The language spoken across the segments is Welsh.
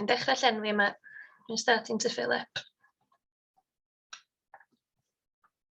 Dwi'n dechrau llenwi yma. I'm starting to fill up.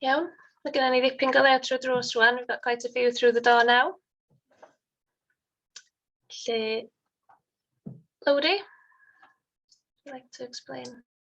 Iawn, mae gennym ni ddipyn gael ei trwy drws rwan. We've got quite a few through the door now. Lle, Lowri, would you like to explain?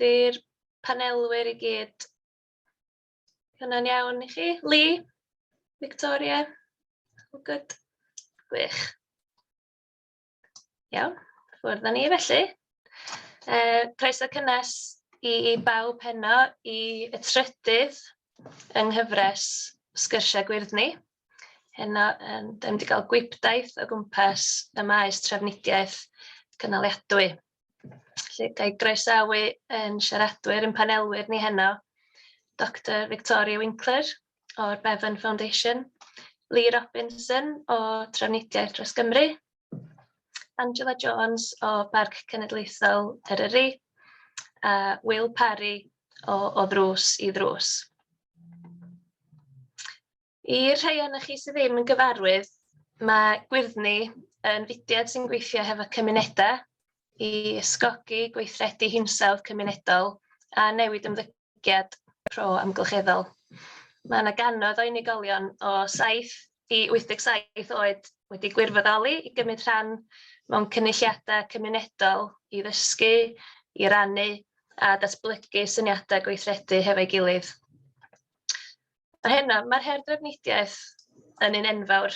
Di'r panelwyr i gyd, hynna'n iawn i chi? Lee? Victoria? All good? Gwych. Iawn, ffwrdd â ni felly. Uh, croeso cynnes i, i bawb heno i y trydydd yng nghyfres Sgyrsiau Gwyrddni. Heno, um, da ni wedi cael gwybdaeth o gwmpas y maes trafnidiaeth cynaliadwy. Felly, ga i groesawu ein siaradwyr, ein panelwyr ni heno, Doctor Victoria Winkler o'r Bevan Foundation, Lee Robinson o Trafnidiaeth Dros Gymru, Angela Jones o Barc Cenedlaethol Eryri, a Will Parry o O Ddrws i Ddrws. I'r rhai ohonoch chi sydd ddim yn gyfarwydd, mae Gwyrddni yn fudiad sy'n gweithio hefo cymunedau i ysgogi gweithredu hinsawdd cymunedol a newid ymddygiad pro amgylcheddol. Mae yna gannoedd o unigolion o 7 i 87 oed wedi gwirfoddoli i gymryd rhan mewn cynulliadau cymunedol i ddysgu, i rannu a datblygu syniadau gweithredu hefo'i gilydd. A heno, mae'r her drafnidiaeth yn un enfawr.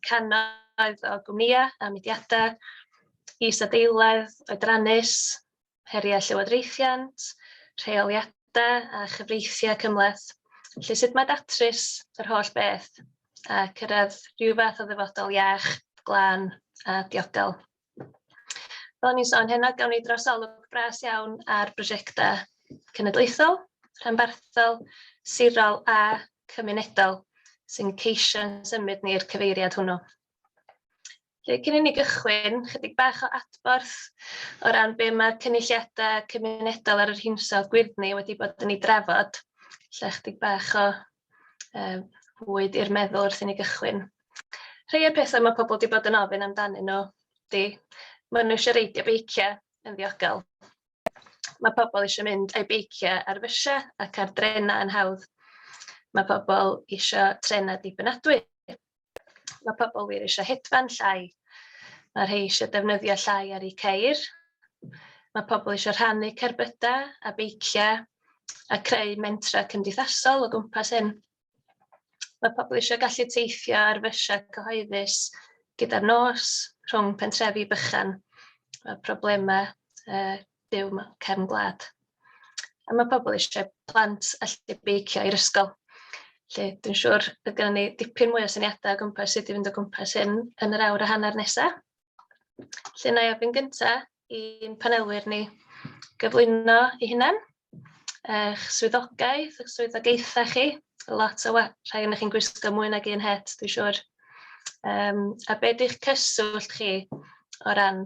Cannoedd o gwmnïau a mudiadau, isadeiledd, oedrannus, heriau llywodraethiant, rheoliadau a chyfreithiau cymhleth. Felly, sut mae datrys yr holl beth a cyrraedd rhyw fath o ddyfodol iach, glân a diogel? Fel o'n i'n sôn hynna, gawn ni drosolwg bres iawn ar brosiectau cenedlaethol, rhanbarthol, sirol a cymunedol sy'n ceisio symud ni'r cyfeiriad hwnnw. Felly, cyn i ni gychwyn, chydig bach o adborth o ran be mae'r cynulliadau cymunedol ar yr hinsawdd gwyrddni wedi bod yn ei drafod. Lle chydig bach o um, fwyd i'r meddwl wrth i ni gychwyn. Rhai o'r pethau mae pobl wedi bod yn ofyn amdanyn nhw di, maen nhw eisiau reidio beiciau yn ddiogel. Mae pobl eisiau mynd a'i beiciau ar fysiau ac ar drenau yn hawdd. Mae pobl eisiau trenau dibynadwy. Mae pobl wir eisiau hedfan llai. Mae rhai eisiau defnyddio llai ar eu ceir. Mae pobl eisiau rhannu cerbydau a beiciau a creu mentrau cymdeithasol o gwmpas hyn. Mae pobl eisiau gallu teithio ar fysiau cyhoeddus gyda'r nos rhwng pentrefi bychan. Mae problemau uh, byw mewn cefn gwlad. A mae pobl eisiau plant allu beicio i'r ysgol. Lle, dwi'n siŵr bydd gennym ni dipyn mwy o syniadau o gwmpas sut i fynd o gwmpas hyn yn yr awr a hanner nesaf. Lle na i ofyn gyntaf i'n panelwyr ni gyflwyno i hunan, eich swyddogaeth, eich swyddogaethau chi, lot o rhai yn chi'n gwisgo mwy nag un het, dwi'n siŵr. Um, a beth ydych cyswllt chi o ran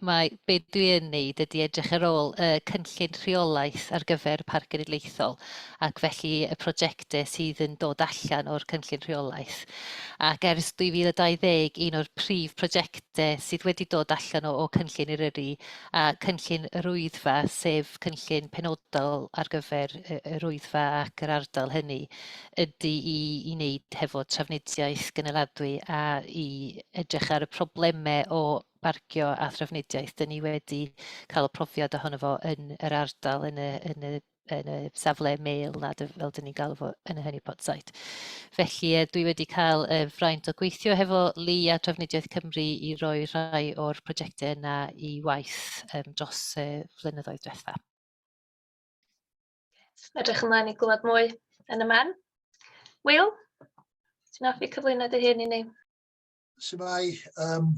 mae be dwi yn wneud ydy edrych ar ôl y cynllun rheolaeth ar gyfer y Parc Genedlaethol ac felly y prosiectau sydd yn dod allan o'r cynllun rheolaeth. Ac ers 2020, un o'r prif prosiectau sydd wedi dod allan o, o cynllun Eryri a cynllun yr Wyddfa, sef cynllun penodol ar gyfer y, yr Wyddfa ac yr ardal hynny, ydy i, i wneud hefo trafnidiaeth gynaladwy a i edrych ar y problemau o parcio a thrafnidiaeth. Dyn ni wedi cael y profiad ohono fo yn yr ardal, yn y, yn y yn y safle mail na, fel dyn ni'n galw fo yn y hynny pot site. Felly e, dwi wedi cael y fraint o gweithio hefo Li a Trafnidiaeth Cymru i roi rhai o'r prosiectau yna i waith um, dros y flynyddoedd diwetha. Edrych ymlaen i glywed mwy yn y man. Will, ti'n offi cyflwyno dy hun i ni? Shwmae, um,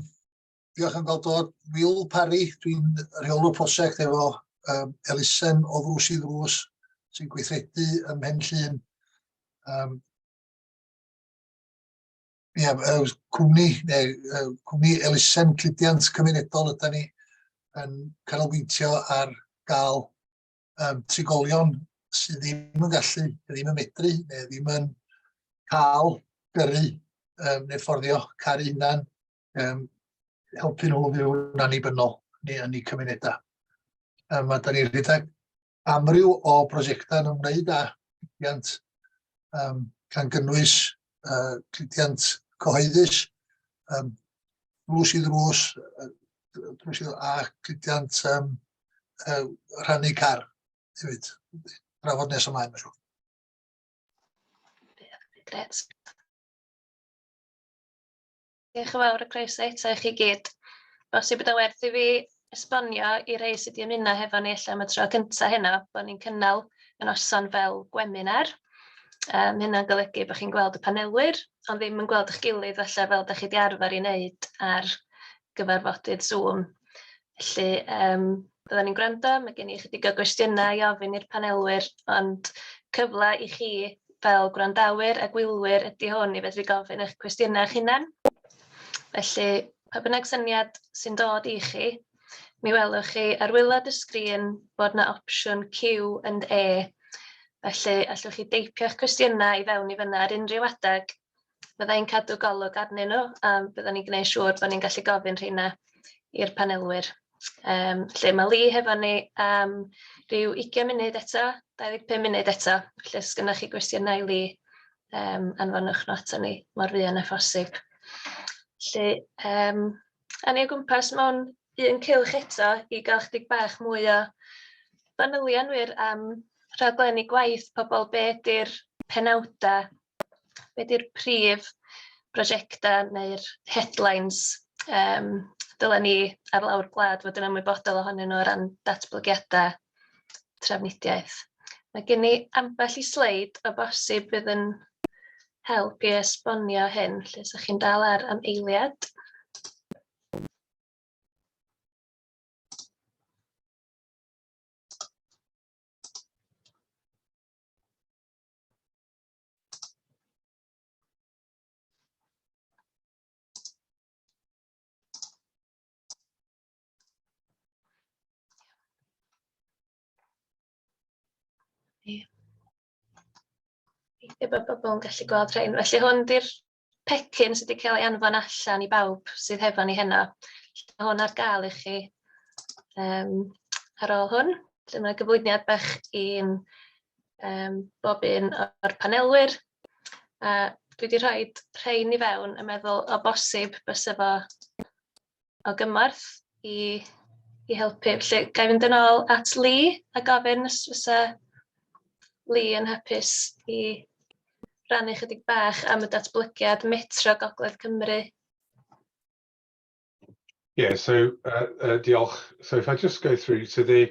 diolch am gael dod. Wil Parry, dwi'n rheolwr prosiect efo um, elusen o ddrws i ddrws sy'n gweithredu ym Mhen Llun. Um, Ie, yeah, cwmni, neu uh, cwmni elusen cludiant cymunedol ydy ni yn canolbwyntio ar gael um, trigolion sydd ddim yn gallu, ddim yn medru, neu ddim yn cael gyrru um, neu fforddio caru hunan, um, helpu nhw fyw'n annibynnol neu yn eu cymunedau. Um, a da ni'n rhedeg amryw o brosiectau yn ymwneud â diwydiant um, gan gynnwys uh, cludiant cyhoeddus, um, drws i ddrws, drws i ddrws, a cludiant um, uh, rhannu car hefyd. Drafod nes ymlaen, mae'n siŵr. Gret. Diolch yn fawr a croeso eto i chi gyd. Os yw bod o werth i fi esbonio i rei sydd wedi ymuno hefo ni ella am y tro cyntaf heno, bod ni'n cynnal y noson fel gweminar. Um, hynna'n golygu bod chi'n gweld y panelwyr, ond ddim yn gweld eich gilydd falle fel da chi wedi arfer i wneud ar gyfarfodydd Zoom. Felly yym byddan ni'n gwrando, ma' gen i ychydig o gwestiynau i ofyn i'r panelwyr, ond cyfle i chi fel gwrandawyr a gwylwyr ydy hwn i fedru gofyn eich cwestiynau eich hunan. Felly pa bynnag syniad sy'n dod i chi, mi welwch chi ar waelod y sgrin bod 'na opsiwn Q&A, felly allwch chi deipio'ch cwestiynau i fewn i fan'na ar unrhyw adeg, fydda i'n cadw golwg arnyn nhw, a byddan ni'n gwneud siŵr bod ni'n gallu gofyn rheina i'r panelwyr. Yym, lle mae Lee hefo ni am ryw 20 munud eto, 25 munud eto. Felly, os gennych chi gwestiynau i Lee, yym, anfonwch nhw aton ni mor fuan â phosib. Felly, yym, a ni o gwmpas mewn un cylch eto i gael chydig bach mwy o fanylion wir am rhaglenni gwaith pobl, be ydy'r penawdau be 'di'r prif brosiectau neu'r headlines yym dylen ni ar lawr gwlad fod yn ymwybodol ohonyn nhw o ran datblygiadau trafnidiaeth? Mae gen i ambell i sleid o bosib fydd yn help i esbonio hyn, lle ydych chi'n dal ar am eiliad. Ie. Gobeithio bod pobl yn gallu gweld rhein. Felly hwn 'di'r pecyn sydd wedi cael ei anfon allan i bawb sydd hefo ni heno. Mae hwn ar gael i chi um, ar ôl hwn. Dyma gyflwyniad bach i'n um, bob un o'r panelwyr. A dwi wedi rhoi rhain i fewn yn meddwl o bosib bys efo o gymorth i i helpu. Felly, ga i fynd yn ôl at Lee a gofyn os fysa Lee yn hapus i rannu chydig bach am y datblygiad metro Gogledd Cymru? Yeah, so uh, uh, diolch. So if I just go through, so the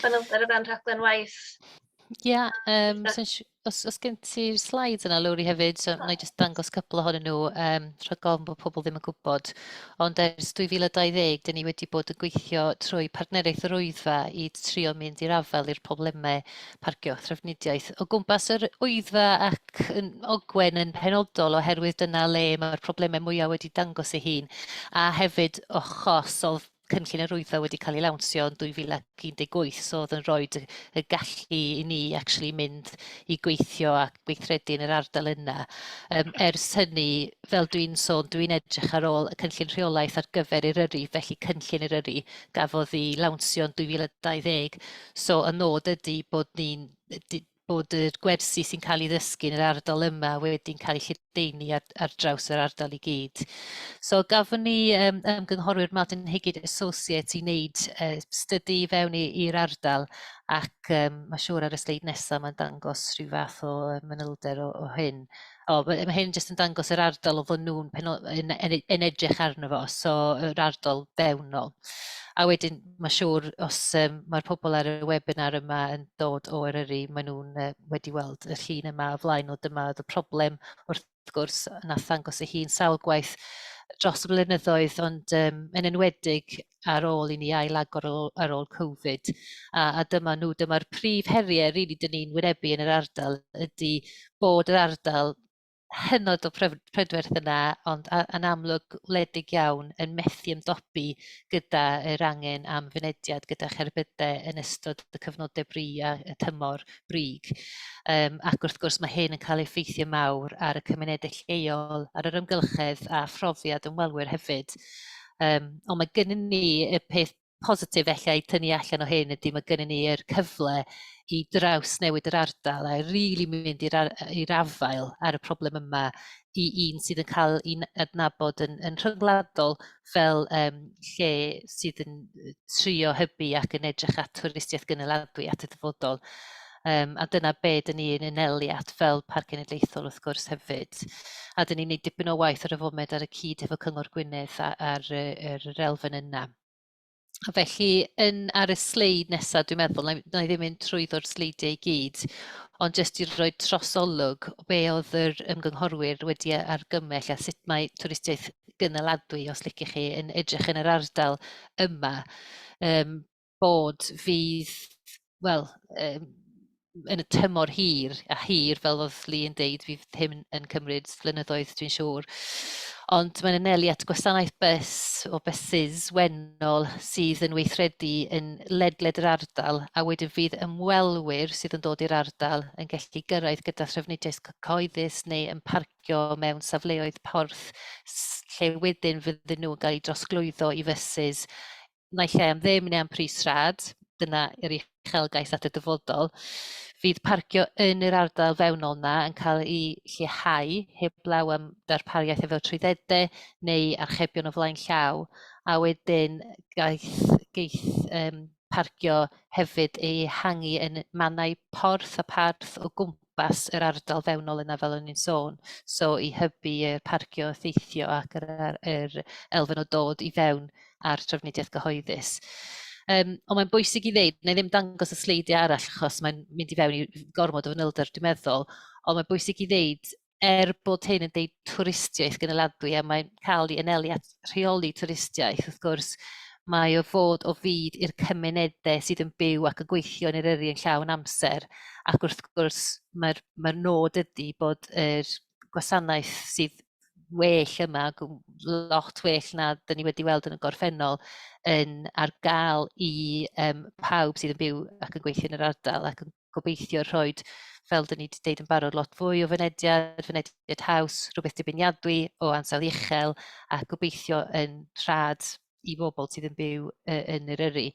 Fanylder o fewn rhaglen waith. Ie, yeah, um, so, os, os gen ti'r slides yna, Lowri, hefyd, so, na i jyst dangos cybl ohonyn nhw, um, rhag ofn bod pobl ddim yn gwybod. Ond ers 2020, dyn ni wedi bod yn gweithio trwy partneriaeth yr Wyddfa i trio mynd i'r afael i'r problemau parcio a thrafnidiaeth o gwmpas yr Wyddfa ac yn Ogwen yn penodol oherwydd dyna le mae'r problemau mwyaf wedi dangos ei hun a hefyd o chos o cynllun yr Wyddfa wedi cael ei lawnsio yn 2018, so oedd yn rhoi y gallu i ni actually mynd i gweithio a gweithredu yn yr ardal yna. Um, ers hynny, fel dwi'n sôn, dwi'n edrych ar ôl y cynllun rheolaeth ar gyfer Eryri, felly cynllun Eryri gafodd ei lawnsio yn 2020, so y nod ydy bod ni'n bod y gwersi sy'n cael ei ddysgu yn yr ardal yma wedi'n cael ei lledaenu ar, ar draws yr ardal i gyd. So gafon ni um, ymgynghorwyr Martin Higgid Associates i wneud uh, stydu i fewn i'r ardal ac um, mae siŵr ar y sleid nesaf mae'n dangos rhyw fath o manylder o, o hyn. O, mae ma' hyn jyst yn dangos yr ardal o fod nhw'n penol- yn, yn, yn edrych arno fo, so yr ardal fewnol. A wedyn, mae siŵr, os um, mae'r pobl ar y webinar yma yn dod o Eryri, maen nhw'n uh, wedi weld y llun yma o flaen o dyma oedd y problem wrth gwrs yn athangos ei hun sawl gwaith dros y blynyddoedd, ond um, yn enwedig ar ôl i ni ailagor ar ôl Covid. A, a dyma nhw, dyma'r prif heriau rili really, dyn ni'n wynebu yn yr ardal ydy bod yr ardal hynod o prydferth yna, ond yn amlwg wledig iawn yn methu ymdopi gyda yr angen am fynediad gyda cherbydau yn ystod y cyfnodau bri a y tymor brig. Um, ac wrth gwrs mae hyn yn cael effeithio mawr ar y cymunedau lleol, ar yr ymgylchedd a phrofiad ymwelwyr hefyd. Um, ond mae gennym ni y peth positif ella i tynnu allan o hyn ydy mae gennym ni yr cyfle i draws newid yr ardal a rili mynd i'r i'r afael ar y problem yma i un sydd yn cael ei adnabod yn yn rhyngwladol fel um, lle sydd yn trio hybu ac yn edrych at twristiaeth gynaladwy at y dyfodol. Um, a dyna be dyn ni yn enelu at fel Parc Cenedlaethol wrth gwrs hefyd. A dyn ni'n gwneud dipyn o waith ar y foment ar y cyd efo Cyngor Gwynedd a'r, ar yr elfen yna. Felly, yn ar y sleid nesaf, dwi'n meddwl, na i na i ddim mynd trwyddo'r sleidiau i gyd, ond jyst i roi trosolwg o be oedd yr ymgynghorwyr wedi e- argymell a sut mae twristiaeth gynaladwy, os liciwch chi, yn edrych yn yr ardal yma, yym, bod fydd wel, um, yn y tymor hir, a hir fel oedd Lee yn deud, fydd hyn yn cymryd flynyddoedd dwi'n siŵr. Ond mae'n anelu at gwasanaeth bus o buses wennol sydd yn weithredu yn ledled yr ardal a wedyn fydd ymwelwyr sydd yn dod i'r ardal yn gallu gyrraedd gyda thrafnidiaeth cyhoeddus neu yn parcio mewn safleoedd porth lle wedyn fydden nhw'n cael eu drosglwyddo i fuses naill ai am ddim neu am pris rhad, dyna yr uchelgais at y dyfodol, fydd parcio yn yr ardal fewnol yna yn cael ei lleihau heblaw am darpariaeth efo trwyddedau neu archebion o flaen llaw, a wedyn gaeth, geith um, parcio hefyd ei hangi yn mannau porth a parth o gwmpas cwmpas yr ardal fewnol yna fel o'n i'n sôn, so i hybu y parcio effeithio ac yr, yr elfen o dod i fewn a'r trafnidiaeth gyhoeddus. Um, ond mae'n bwysig i ddeud, neu ddim dangos y sleidiau arall achos mae'n mynd i fewn i gormod o fanylder dwi'n meddwl, ond mae'n bwysig i ddeud er bod hyn yn deud twristiaeth gynaladwy a mae'n cael ei anelu at rheoli twristiaeth, wrth gwrs, mae o fod o fyd i'r cymunedau sydd yn byw ac yn gweithio yn yr yrru yn llawn amser. Ac wrth gwrs, mae'r mae nod ydy bod yr gwasanaeth sydd well yma, lot well na dyn ni wedi weld yn y gorffennol, yn ar gael i um, pawb sydd yn byw ac yn gweithio yn yr ardal ac yn gobeithio rhoi, fel dyn ni wedi deud yn barod, lot fwy o fynediad, fynediad haws, rhywbeth dibeniadwy o ansawdd uchel a gobeithio yn rhad i bobl sydd yn byw yn yr yrru.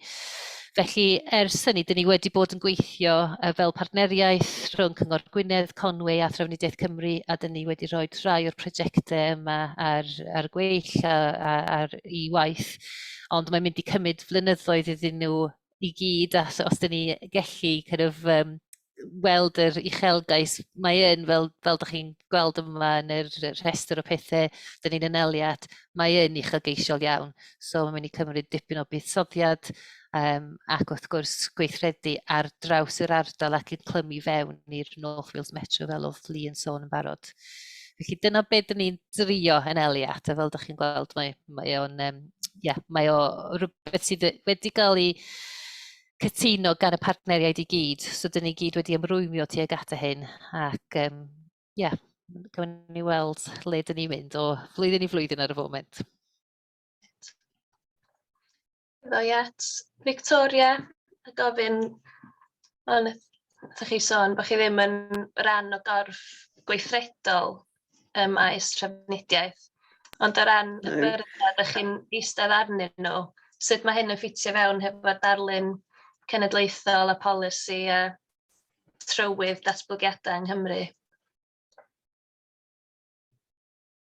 Felly, ers hynny, dyn ni wedi bod yn gweithio fel partneriaeth rhwng Cyngor Gwynedd, Conwy a Thrafnidiaeth Cymru, a dyn ni wedi rhoi rhai o'r prosiectau yma ar, ar gweill a, a, ar i waith. Ond mae'n mynd i cymryd flynyddoedd iddyn nhw i gyd a os dyn ni gellu kind of, um, weld yr uchelgais mae yn fel fel dych chi'n gweld yma yn yr rhestr o pethau dyn ni'n yneliad mae yn uchelgeisiol iawn so mae'n mynd i cymryd dipyn o buddsoddiad um, ac wrth gwrs gweithredu ar draws yr ardal ac yn clymu fewn i'r North Wales Metro fel oedd Lee yn sôn yn barod. Felly dyna beth dyn ni'n drio yn Eliat, a fel ydych chi'n gweld, mae, mae o'n, um, yeah, mae o rhywbeth sydd wedi cael ei cytuno gan y partneriaid i gyd. So dyn ni gyd wedi ymrwymio tuag at y hyn, ac um, yeah, cawn ni weld le dyn ni'n mynd o flwyddyn i flwyddyn ar y foment. Ddo i at Victoria a gofyn, fel wnaethoch chi sôn, bod chi ddim yn rhan o gorff gweithredol ym maes trafnidiaeth, ond o ran y byrddau dach chi'n eistedd arnyn nhw, sut mae hyn yn ffitio fewn hefo'r darlun cenedlaethol a polisi a trywydd datblygiadau yng Nghymru?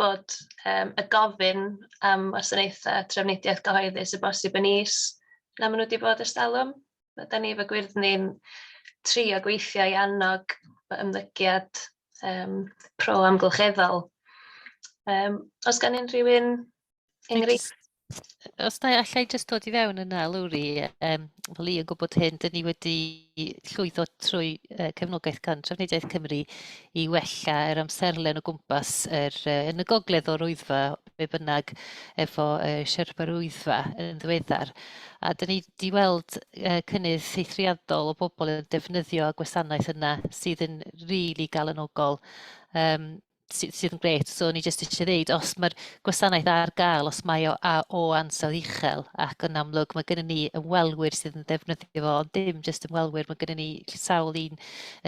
bod yym y gofyn am wasanaethau trafnidiaeth gyhoeddus o bosib yn is na maen nhw wedi bod ers talwm. Mae 'da ni efo gwyrddni'n trio gweithio i annog ymddygiad yym pro-amgylcheddol. Yym oes gan unrhyw un enghreifftiau? Os na i, alla i jyst dod i fewn yna, Lowri. Um, fel i yn gwybod hyn, dyn ni wedi llwyddo trwy uh, cefnogaeth gan Trafnidiaeth Cymru i wella yr amserlen o gwmpas er, uh, yn y gogledd o'r wyddfa, be bynnag, efo uh, Sherpa'r wyddfa yn ddiweddar. A dyn ni wedi weld uh, cynnydd eithriadol o bobl yn defnyddio gwasanaeth yna sydd yn rili really galonogol. Um, sy, sydd yn gret. So o'n i jyst eisiau ddeud, os mae'r gwasanaeth ar gael, os mae o a o ansawdd uchel, ac yn amlwg mae gennym ni ymwelwyr sydd yn defnyddio fo, ond dim jyst ymwelwyr, mae gennym ni sawl un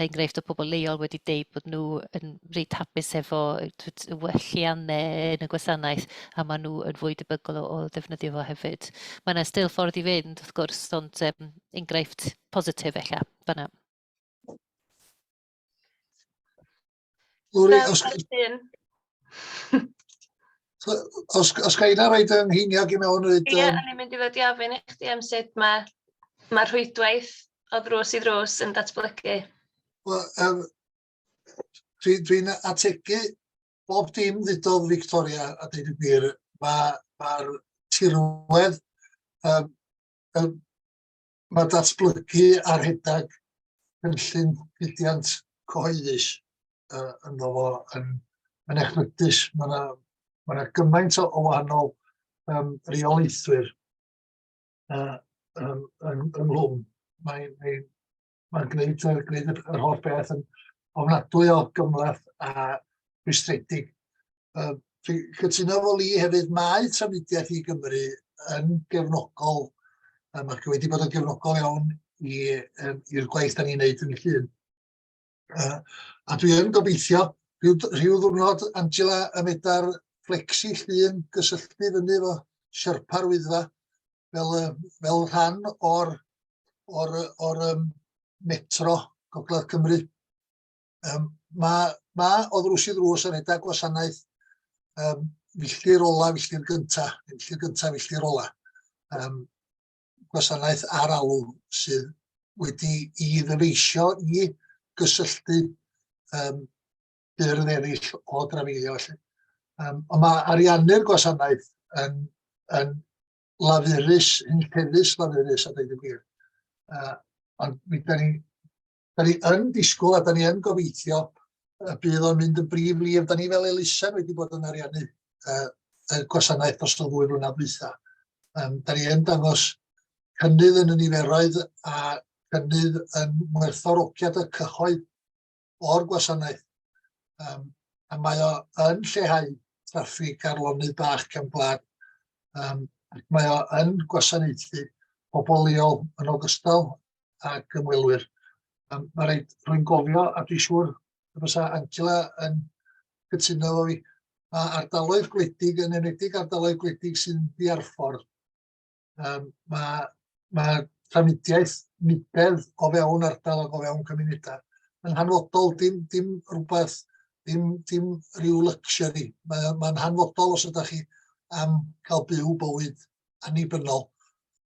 enghraifft o pobl leol wedi deud bod nhw yn reit hapus efo welliannau yn y gwasanaeth, a maen nhw yn fwy debygol o, o ddefnyddio fo hefyd. Mae yna still ffordd i fynd, wrth gwrs, ond um, enghraifft positif efallai, fanna. Lwri, os, os, os gael yna roed yng ngheiniog i mewn... Ie, yeah, um... ni'n mynd i fod i ofyn i chdi am sut mae ma rhwydwaith o ddrws i ddrws yn datblygu. Wel, um, dwi'n dwi ategu bob dim ddudodd Victoria a dweud y gwir. Mae'r ma, ma tirwedd um, um, Mae datblygu a rhedeg cynllun diwydiant cyhoeddus uh, ynddo fo yn, yn echlydus. Mae yna ma, na, gymaint o, o wahanol um, reolaethwyr uh, um, yn, ynglwm. Mae'n mae, mae gwneud, uh, gwneud yr, yr holl beth yn ofnadwy o gymlaeth a rwystredig. Uh, dwi'n cytuno fo li hefyd, mae trafnidiaeth i Gymru yn gefnogol, um, ac wedi bod yn gefnogol iawn i'r um, gwaith da ni'n neud yn llun. Uh, a dwi yn gobeithio, rhyw, rhyw ddwrnod Angela y medar flexi llun gysylltu fyny fo siarpa'r wyddfa fel, fel rhan o'r, or, or, um, metro Gogledd Cymru. Um, mae, mae o ddrws i ddrws yn edrych gwasanaeth um, filltir ola, filltir gynta, filltir gynta, filltir ola. Um, gwasanaeth ar alw sydd wedi i ddyfeisio i gysylltu um, byrdd eraill o drafeilio. Felly. Um, ond mae ariannu'r gwasanaeth yn, yn lafurus, yn llefus lafurus a dweud y gwir. Uh, ond mi da ni Da ni yn disgwyl a da ni yn gobeithio y bydd o'n mynd yn brif lif. Da ni fel elusen wedi bod yn ariannu uh, y gwasanaeth dros y ddwy flynedd dwytha. Um, da ni yn dangos cynnydd yn y niferoedd a cynnydd yn werthorogiad y cyhoedd o'r gwasanaeth. Um, a mae o yn lleihau traffig ar lonydd bach cefn gwlad. Um, mae o yn gwasanaethu pobl leol yn ogystal ac ymwelwyr. Um, mae rhaid rwy'n gofio, a dwi'n siŵr y bysa Angela yn cytuno efo fi, mae ardaloedd gwledig, yn enwedig ardaloedd gwledig sy'n ddiarffordd, um, mae, mae trafnidiaeth nibedd o fewn ardal ac o fewn cymunedau. Yn hanfodol, dim, dim rhywbeth, dim, dim rhyw luxury. Mae'n ma hanfodol os ydych chi am cael byw bywyd annibynnol.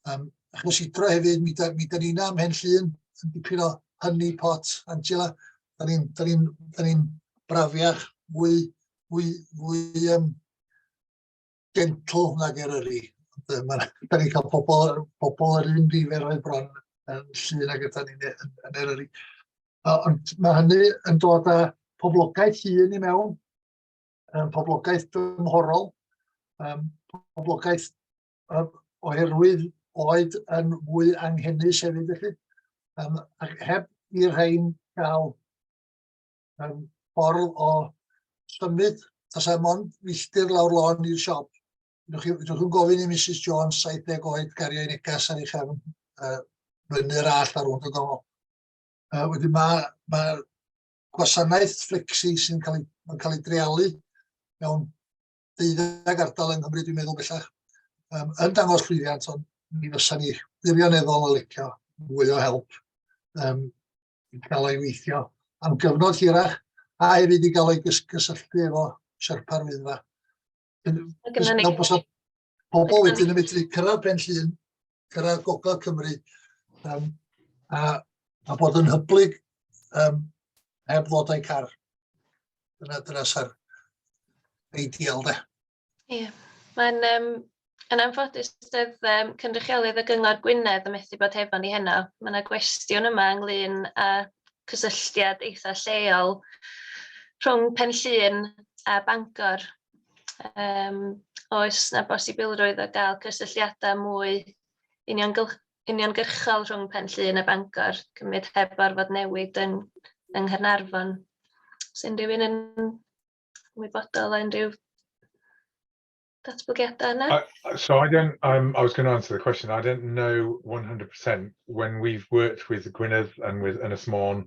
Um, achos i dro hefyd, mi da, mi da ni'n am hen llun, yn dipyn o hynny pot, Angela, da ni'n da ni, da ni brafiach, fwy, fwy, fwy um, gentle nag er yri. Da ni'n cael pobl, pobl yr un nifer o'i bron yn llun ag ydyn ni'n e, yn, yn er yri. Ond mae hynny yn dod â poblogaeth hun i mewn, um, poblogaeth dymhorol, um, poblogaeth um, oherwydd oed yn fwy anghennus hefyd felly, um, ac heb i'r rhain gael um, ffordd o symud, tas er mond milltir lawr lôn i'r siop. Ydych chi'n gofyn i Mrs Jones 70 oed gario i negas ar ei chefn uh, fyny'r all ar ôl y gofod. Uh, wedyn mae ma gwasanaeth fflecsi sy'n cael ei, mae'n cael ei dreialu mewn deuddeg ardal yng Nghymru, dwi'n meddwl bellach, um, yn dangos llwyddiant, ond mi fysa ni wirioneddol yn licio mwy o help um, i gael ei weithio am gyfnod hirach, a hefyd i gael ei gysylltu efo Sherpa'r Wyddfa. Fel bod Pobl wedyn yn medru cyrraedd Pen Llŷn, cyrraedd Gogledd Cymru, um, a, a bod yn hyblyg um, heb ddod â'i car. Dyna, dyna sa'r ideal de. Ie, yeah. mae'n um, yn anffodus doedd um, cynrychiolydd y Gyngor Gwynedd yn methu bod hefo ni heno. Mae yna gwestiwn yma ynglyn â cysylltiad eitha lleol rhwng Pen Llŷn a Bangor Yym, oes 'na bosibilrwydd o gael cysylltiadau mwy uniongylch- uniongyrchol rhwng Pen Llŷn a Bangor, cymryd heb orfod newid yn yng Nghaernarfon? Oes unrhyw un yn ymwybodol o unrhyw datblygiadau yna? Uh, uh, so I don't, um, I was going to answer the question. I don't know 100% when we've worked with Gwynedd and with Ynys Môn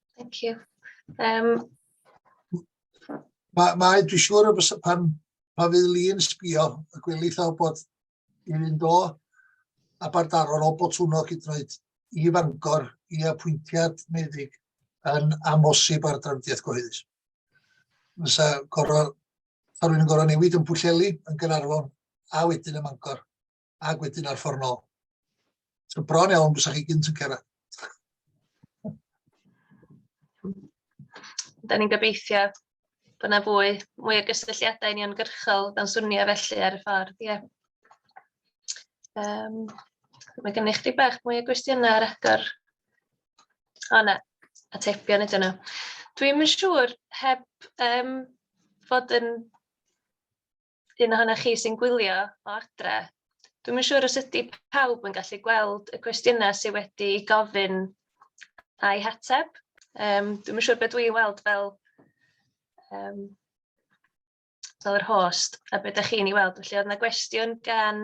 Thank you. Um... Mae, ma, dwi'n siŵr o beth pan, pan fydd Lee yn sbio, y gwylith o bod i fynd o a bardaro'r o Botwnog i droed i fangor i apwyntiad meddyg yn amosib ar drafdiaeth gyhoeddus. Fysa gorau, rwy'n gorau newid yn Pwllheli, yn Gaernarfon, a wedyn yn Mangor. ac wedyn ar ffordd nôl. So bron iawn, bys chi gynt yn cyrraedd. Da ni'n gobeithio bod yna fwy, mwy o gysylltiadau uniongyrchol dan swnio felly ar y ffordd, ie. Yeah. Um, mae gennych chi bach mwy o gwestiynau ar agor. O na, atebion ydyn nhw. Dwi'n mynd siŵr, heb um, fod yn un ohonoch chi sy'n gwylio o adre, dwi'm yn siŵr os ydy pawb yn gallu gweld y cwestiynau sydd wedi gofyn a'i hateb. Um, dwi'm yn siŵr beth dwi'n weld fel, um, fel yr host a beth ydych chi'n ei weld. Felly oedd yna gwestiwn gan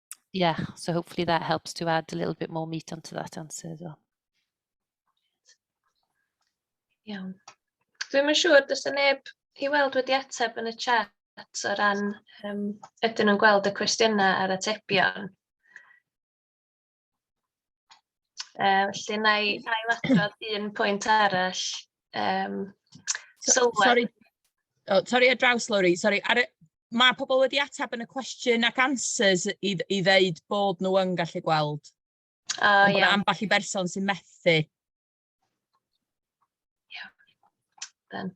yeah, so hopefully that helps to add a little bit more meat onto that answer as well. Iawn. Dwi'n yn siŵr, does yna neb i weld wedi ateb yn y chat o ran um, ydyn nhw'n gweld y cwestiynau a'r atebion. Yy felly wna i ail-adrodd un pwynt arall, yym sylwedd. Sori, o, torri ar draws Lowri, sori, ar y... Mae pobl wedi ateb yn y cwestiwn ac answers i, dd- i ddeud bod nhw yn gallu gweld. O Ond bod iawn, ambell i berson sy'n methu. then.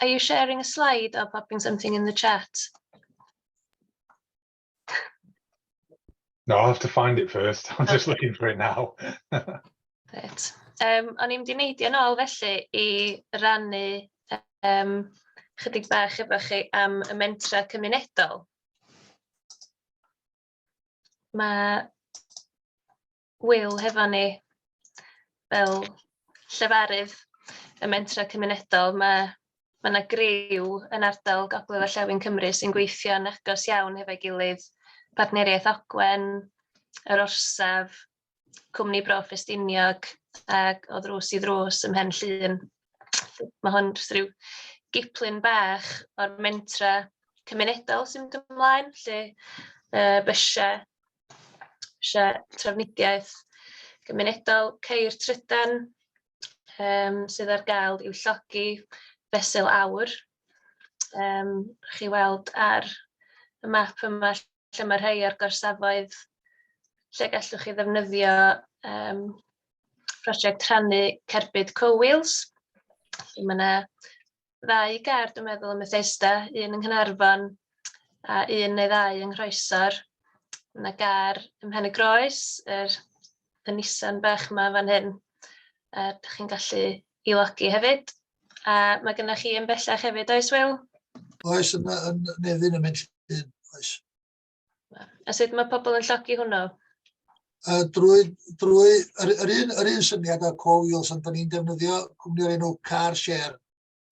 Are you sharing a slide or popping something in the chat? No, I'll have to find it first. I'm just looking for it now. Right. Um, o'n i'n mynd i ôl felly i rannu um, chydig bach efo chi am y mentra cymunedol. Mae Wil hefo ni fel llefarydd y mentrau cymunedol. Mae mae yna griw yn ardal Gogledd Orllewin Cymru sy'n gweithio'n agos iawn hefo'i gilydd, Partneriaeth Ogwen, yr Orsaf, Cwmni Bro Ffestiniog ac o ddrws i ddrws ym Mhen Llŷn. Mae hwn jyst rhyw giplun bach o'r mentra cymunedol sy'n mynd ymlaen, lle uh, bysiau Lle trafnidiaeth gymunedol ceir trydan yym sydd ar gael i'w llogi fesul aur. Yym rhowch chi weld ar y map yma lle mae rhai o'r gorsafoedd lle gallwch chi ddefnyddio yym prosiect rhannu cerbyd Cow Wheels. Felly mae 'na ddau ger, dwi'n meddwl, ym Methesda, un yng Nghaernarfon a un neu ddau yng Nghroesor. Mae yna gar ym Mhen y Groes, yr y Nissan bach yma fan hyn. A uh, chi'n gallu i logi hefyd. A mae gennych chi yn bellach hefyd, oes Wil? Oes, yn, yn Nefyn yn mynd llun, oes. A sut mae pobl yn llogi hwnnw? Uh, drwy, drwy yr, yr, un, yr un syniad o co wheels ond da ni'n defnyddio cwmni o'r enw Car Share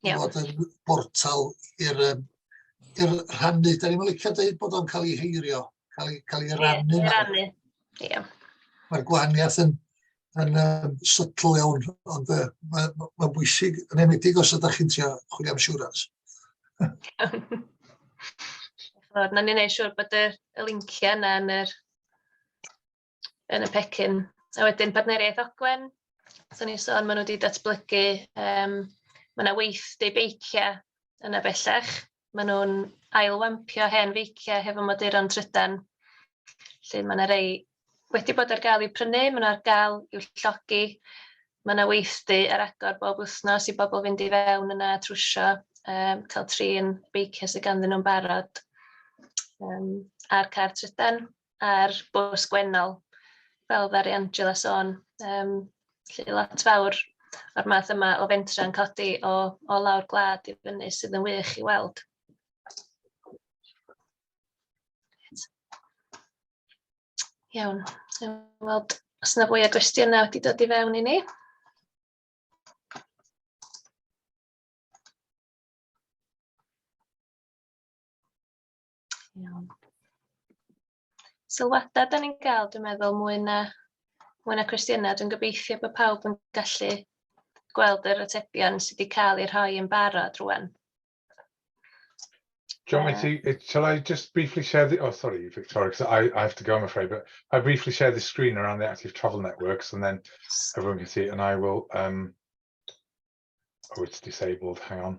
yeah. bod yn bortal i'r um, i'r rhannu. Da ni'n licio dweud bod o'n cael ei heirio, cael ei, cael ei rannu. Yeah, rannu. Ie. Mae'r gwahaniaeth yn, yn um, sytl iawn, ond uh, mae'n ma, ma bwysig, yn enwedig os ydych chi'n trio chwilio am siwrans. Chod, na ni'n ei siwr bod y, y linciau yna yn, yr, yn y pecyn. A wedyn partneriaeth Ogwen, so ni'n sôn, maen nhw wedi datblygu, um, mae yna weithdy beiciau yna bellach. maen nhw'n ail-wampio hen feiciau hefo moduron trydan. Felly mae yna rei wedi bod ar gael i'w prynu, mae nhw ar gael i'w llogi. Mae yna weithdy ar agor bob wythnos i bobl fynd i fewn yna a trwsio, um, cael trin beiciau sydd ganddyn nhw'n barod um, a'r car trydan. ar bws Gwennol, fel ddaru Angela sôn, yym, felly lot fawr o'r math yma o fentrau yn codi o o lawr gwlad i fyny sydd yn wych i weld. Iawn, weld os yna fwy o gwestiynau wedi dod i fewn i ni. Iawn. Sylwadau da ni'n gael, dwi'n meddwl, mwy na, mwy na cwestiynau. Dwi'n gobeithio bod pawb yn gallu gweld yr atebion sydd wedi cael eu rhoi yn barod rwan. John, uh, you, it, shall I just briefly share the, oh, sorry, Victoria, because I, I have to go, I'm afraid, but I briefly share the screen around the active travel networks and then everyone can see it and I will, um, oh, it's disabled, hang on.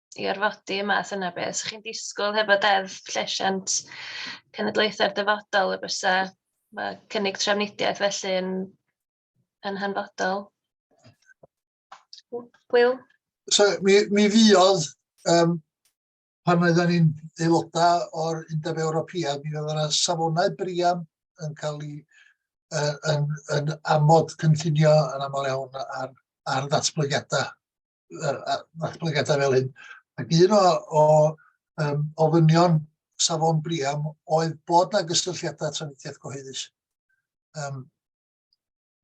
i orfodi y math yna o beth. 'Sa chi'n disgwyl hefo deddf llesiant cenedlaethau'r dyfodol y bysa ma' cynnig trafnidiaeth felly yn yn hanfodol. Wil? So, mi, mi fuodd, um, pan oedden ni'n aelodau o'r Undeb Ewropeaidd, mi oedd yna safonau brian yn cael ei uh, yn, yn amod cynllunio yn aml iawn ar, ar ddatblygiadau adolygiadau fel hyn. Ac un o, o um, ofynion safon Briam oedd bod na gysylltiadau trafnidiaeth gyhoeddus. Um,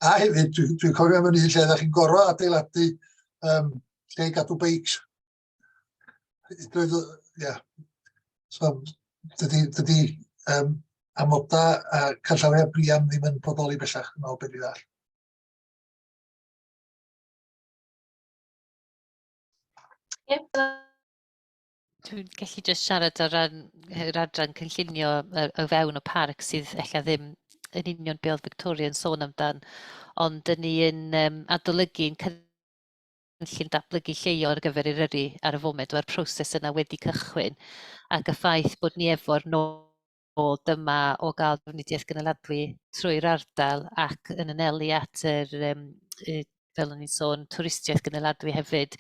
a hefyd, dwi'n dwi cofio am hynny lle ydych chi'n gorfod adeiladu um, lle i gadw beics. Ia. So, dydy, dydy um, amodau a canllawiau Briam ddim yn bodoli bellach yn ôl beth i ddall. Dwi'n gallu jyst siarad o ran yr adran cynllunio o fewn y parc sydd ella ddim yn union be oedd Victoria yn sôn amdan, ond dyn ni yn um, adolygu yn cynllun datblygu lleio ar gyfer yr yrru ar y foment, mae'r proses yna wedi cychwyn, ac y ffaith bod ni efo'r nod ôl dyma o gael drafnidiaeth gynaladwy trwy'r ardal ac yn anelu at yr, um, y, fel o'n i'n sôn, twristiaeth gynaladwy hefyd,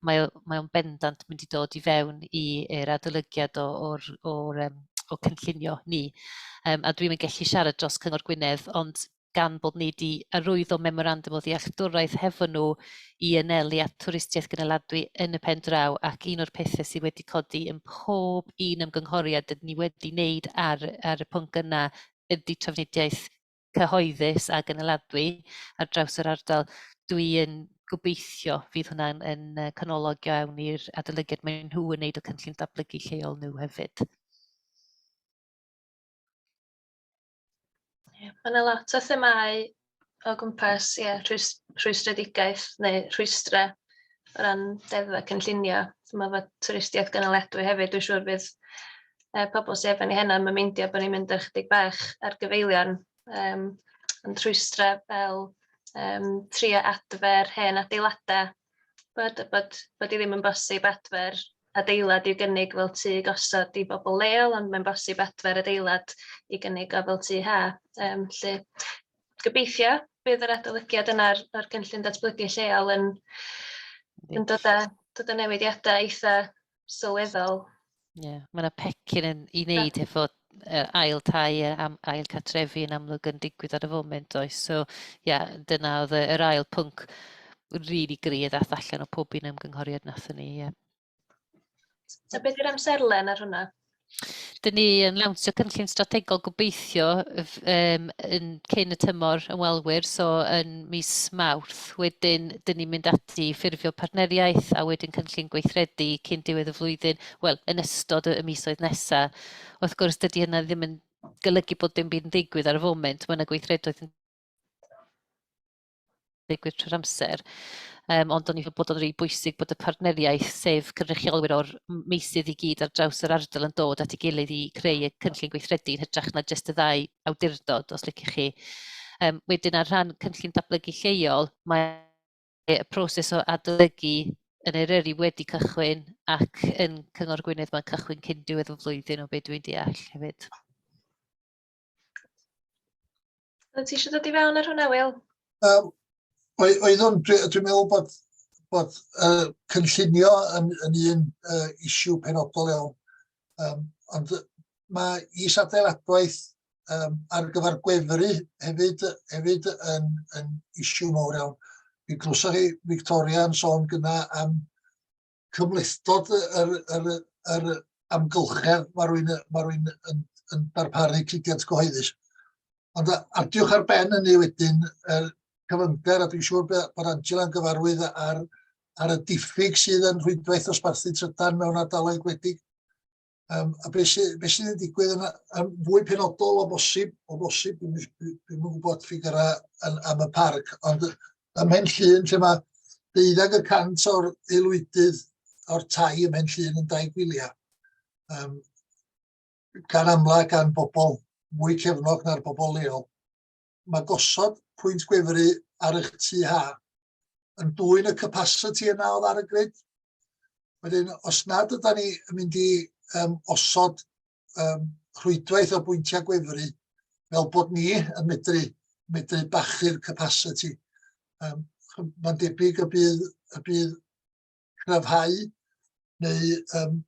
mae, mae o'n bendant mynd i dod i fewn i'r adolygiad o'r, or, um, o cynllunio ni. Um, a dwi'n mynd gallu siarad dros Cyngor Gwynedd, ond gan bod ni 'di arwyddo memorandwm o ddealltwraeth hefo nhw i anelu at twristiaeth gynaladwy yn y pen draw ac un o'r pethau sydd wedi codi yn pob un ymgynghoriad dydyn ni wedi wneud ar, ar y pwnc yna ydy trafnidiaeth cyhoeddus a gynaladwy ar draws yr ardal. Dwi yn gobeithio fydd hwnna'n yn canolog iawn i'r adolygiad maen nhw yn wneud o cynllun datblygu lleol nhw hefyd. Mae yna lot o themau o gwmpas ie rhwys- rhwystredigaeth neu rhwystrau o ran deddfau cynllunio. Dwi'n meddwl bod twristiaeth gynaliadwy hefyd, dwi'n siŵr bydd yy pobl sy efo ni heno ddim yn meindio bod ni'n mynd ar ychydig bach ar gyfeiliorn yym ond rhwystrau fel yym trio adfer hen adeiladau Bod, bod, bod i ddim yn bosib adfer adeilad i'w gynnig fel tŷ gosod i bobl leol, ond mae'n bosib adfer adeilad i gynnig o fel tŷ ha. Um, lle, gobeithio bydd yr adolygiad yna'r o'r cynllun datblygu lleol yn, yn dod â, dod â newidiadau eitha sylweddol. Ie, yeah. mae yna pecyn yn, i wneud efo uh, ail tai a am, ail catrefi yn amlwg yn digwydd ar y foment oes. So, ie, yeah, dyna oedd yr ail pwnc rili really gri a ddath allan o pob un ymgynghoriad nath ni. Yeah. So beth yw'r amserlen ar hwnna? Dyn ni yn lawnsio cynllun strategol gobeithio um, yn cyn y tymor ymwelwyr, so yn mis Mawrth. Wedyn, dyn ni'n mynd ati i ffurfio partneriaeth a wedyn cynllun gweithredu cyn diwedd y flwyddyn, wel, yn ystod y, y misoedd nesaf. Wrth gwrs, dydy hynna ddim yn golygu bod dim byd yn digwydd ar y foment, mae yna gweithredoedd yn ddigwydd trwy'r amser. Um, ond o'n i'n bod o'n rhy bwysig bod y partneriaeth, sef cynrychiolwyr o'r meisydd i gyd ar draws yr ardal yn dod at ei gilydd i creu y cynllun gweithredu yn hytrach na jyst y ddau awdurdod, os liciwch chi. Um, wedyn ar rhan cynllun datblygu lleol, mae y proses o adolygu yn Eryri wedi cychwyn ac yn Cyngor Gwynedd mae'n cychwyn cyn diwedd y flwyddyn o beth dwi'n deall hefyd. Oeddet ti eisiau dod i fewn ar hwnna, Wil? Um, Oeddwn, dwi'n dwi meddwl bod, bod uh, cynllunio yn, yn un uh, isiw penodol iawn. Um, ond mae is adeiladwaith um, ar gyfer gwefru hefyd, hefyd yn, yn isiw mawr iawn. Mi glwsoch chi Victoria yn sôn gyna am cyfleustod yr, yr, yr amgylchedd mae rwy'n, mae rwy'n yn, yn darparu cludiant gyhoeddus. Ond ar diwch ar ben hynny wedyn, er, cyfyngder, a dwi'n siŵr bod Angela'n gyfarwydd ar, ar y diffyg sydd yn rhwydwaith osbarthu trydan mewn ardaloedd gwledig. Um, a beth sydd be sy wedi digwydd yn, yn fwy penodol o bosib, o bosib, dwi'n dwi gwybod ffigurau yn, am y parc, ond ym Mhen Llun lle mae deuddag y cant o'r aelwydydd o'r tai ym Mhen Llun yn dau gwyliau. Um, gan amla gan bobl mwy cefnog na'r bobl leol. mae gosod pwynt gwefru ar eich tu ha yn dwy'n y capacity yna oedd ar y grid. Wedyn, os nad yda ni yn mynd i um, osod um, rhwydwaith o bwyntiau gwefru fel bod ni yn medru, medru bachu'r capacity. Um, Mae'n debyg y bydd, y bydd cryfhau neu um,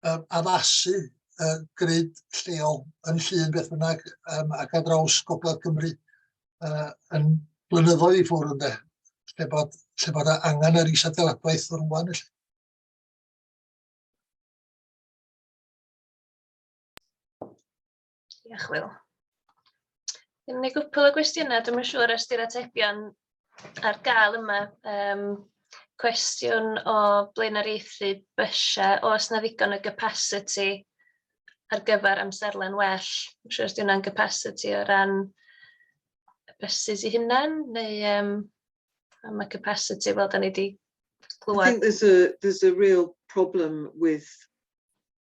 yym addasu yy grid lleol yn Llŷn beth bynnag yym ac ar draws gogledd Cymru yy yn blynyddoedd i ffwrdd ynde lle bod lle bod angen yr is-adeiladwaith rŵan felly. Diolch, Wil. Dyna ni gwpl o gwestiynau, dwi'n siŵr os di'r atebion ar gael yma. Um, cwestiwn o blaenoriaethu bysiau, os na ddigon o capacity ar gyfer amserlen well. Dwi'n siŵr os di hwnna'n capacity o ran y buses i hunain, neu um, am y capacity fel da ni wedi glwad. I think there's a, there's a real problem with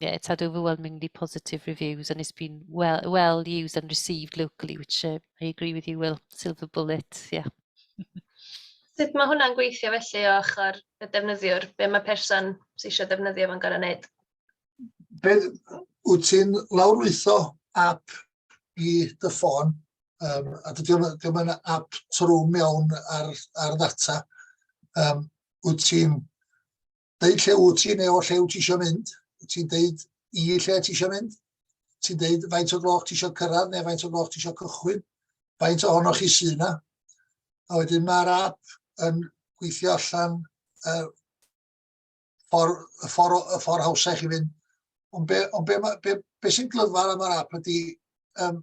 yeah, it's had overwhelmingly positive reviews and it's been well well used and received locally, which uh, I agree with you, Will. Silver bullet, yeah. Sut mae hwnna'n gweithio felly o ochr y defnyddiwr? Be mae person sy'n eisiau defnyddio fo'n gorau wneud? Be, wyt ti'n lawrlwytho app i dy ffôn, um, a dydy o'n app trwm iawn ar, ar ddata, um, wyt ti'n Deud lle wyt ti neu o lle wyt ti eisiau mynd. Wyt ti'n deud i lle ti eisiau mynd. Ti'n deud faint o gloch ti eisiau cyrraedd neu faint o gloch ti eisiau cychwyn. Faint ohonoch chi sy'n yna. A wedyn mae'r app yn gweithio allan uh, ffordd, y ffordd, y ffordd hawsau chi fynd. Ond be, on be, be, be sy'n glyfar am yr app ydy, um,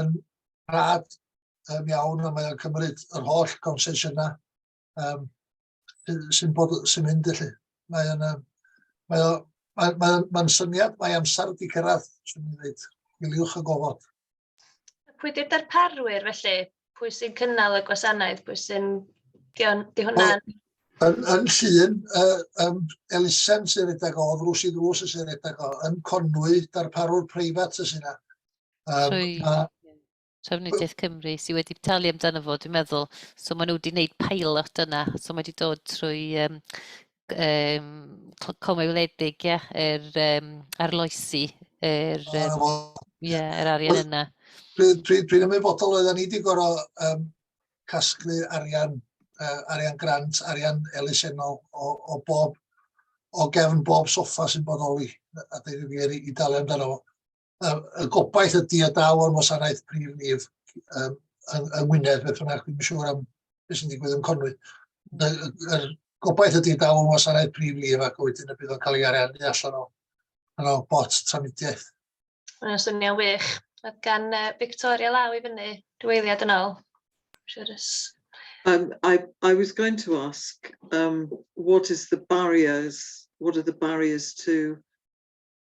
yn rhad um, iawn a mae o'n cymryd yr holl gonsesiynau um, sy'n bod sy'n mynd i chi. Mae o'n um, mae o'n mae, mae, mae syniad, mae amser wedi cyrraedd, swn i'n dweud, miliwch y gofod. Pwy di'r darparwyr felly? Pwy sy'n cynnal y gwasanaeth? Pwy sy'n... Di, on, di hwnna'n... Yn, yn llun, uh, um, elusen sy'n rhedeg o, ddrws i ddrws sy'n rhedeg o, yn Conwy, darparwr preifat sy'n yna. Um, Trwy a... Trefnidiaeth Cymru sydd wedi talu amdano fo, dwi'n meddwl. So maen nhw wedi gwneud pilot yna. So mae wedi dod trwy um, um, comau wledig, ie, yeah, er, um, arloesi, er, um, yeah, er arian yna. Dwi'n dwi, dwi ymwybodol oedden ni wedi gorau um, casglu arian, uh, arian grant, arian elusennol o, o bob o gefn bob soffa sy'n bodoli a dweud y gwir i dalu amdano fo. y gobaith ydy y daw o'r wasanaeth prif lif um, yng, yng Ngwynedd, beth bynnag, dwi'n siŵr am beth sy'n digwydd yn Conwy. Y gobaith ydy daw o'r wasanaeth prif lif ac wedyn y bydd o'n cael ei ariannu allan o, o bot tramidiaeth. Mae'n swnio'n wych. Oedd gan uh, Victoria law i fyny rhywleiddiad yn ôl. Sure um, I, I was going to ask, um, what is the barriers, what are the barriers to